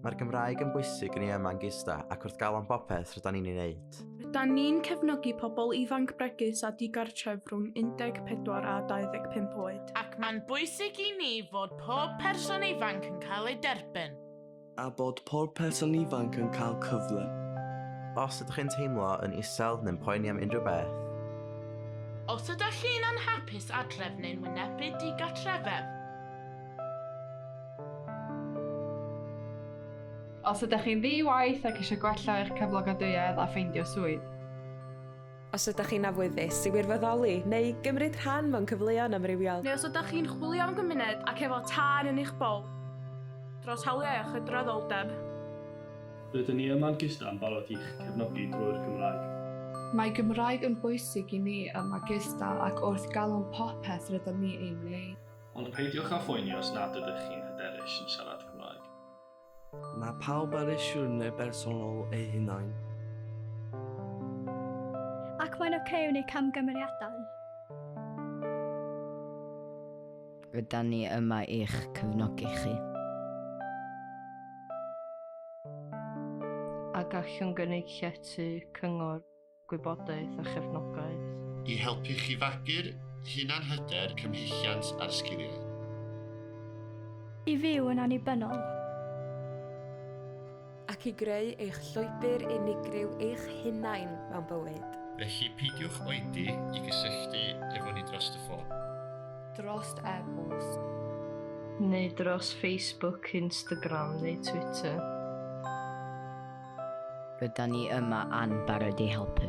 Mae'r Gymraeg yn bwysig yn ei yma yn gista ac wrth galon bopeth rydyn ni'n ei wneud. Rydyn ni'n cefnogi pobl ifanc bregus a digartref rhwng 14 a 25 oed. Ac mae'n bwysig i ni fod pob person ifanc yn cael ei derbyn. A bod pob person ifanc yn cael cyfle. Os ydych chi'n teimlo yn isel neu'n poeni am unrhyw beth. Os ydych chi'n anhapus adref neu'n wynebu digartrefedd. Os ydych chi'n ddi-waith ac eisiau gwella eich cyflogadwyedd a ffeindio swydd. Os ydych chi'n awyddus i wirfoddoli neu gymryd rhan mewn cyfleon amrywiol. Neu os ydych chi'n chwilio am gymuned ac efo tân yn eich bol dros hawliau a chydraddoldeb. Rydyn ni yma'n Gista yn barod i'ch cefnogi drwy'r Gymraeg. Mae Gymraeg yn bwysig i ni yma Gista ac wrth galon popeth rydym ni ei wneud. Ond peidiwch â phoeni os nad ydych chi'n hyderus yn siarad Cymraeg. Mae pawb ar eu siwrne bersonol eu hunain. Ac mae'n oce okay wneud camgymeriadau. Rydan ni yma i'ch cyfnogi chi. A gallwn gynnig llety, cyngor. gwybodaeth a chefnogaeth. I helpu chi fagu'r hunanhyder, cymhelliant a'r sgiliau. I fyw yn annibynnol. Ac i greu eich llwybr unigryw eich hunain mewn bywyd. Felly peidiwch oedi i gysylltu efo ni drost y ffôn. Drost e-bost. Neu dros Facebook, Instagram neu Twitter. Rydan ni yma an barod i helpu.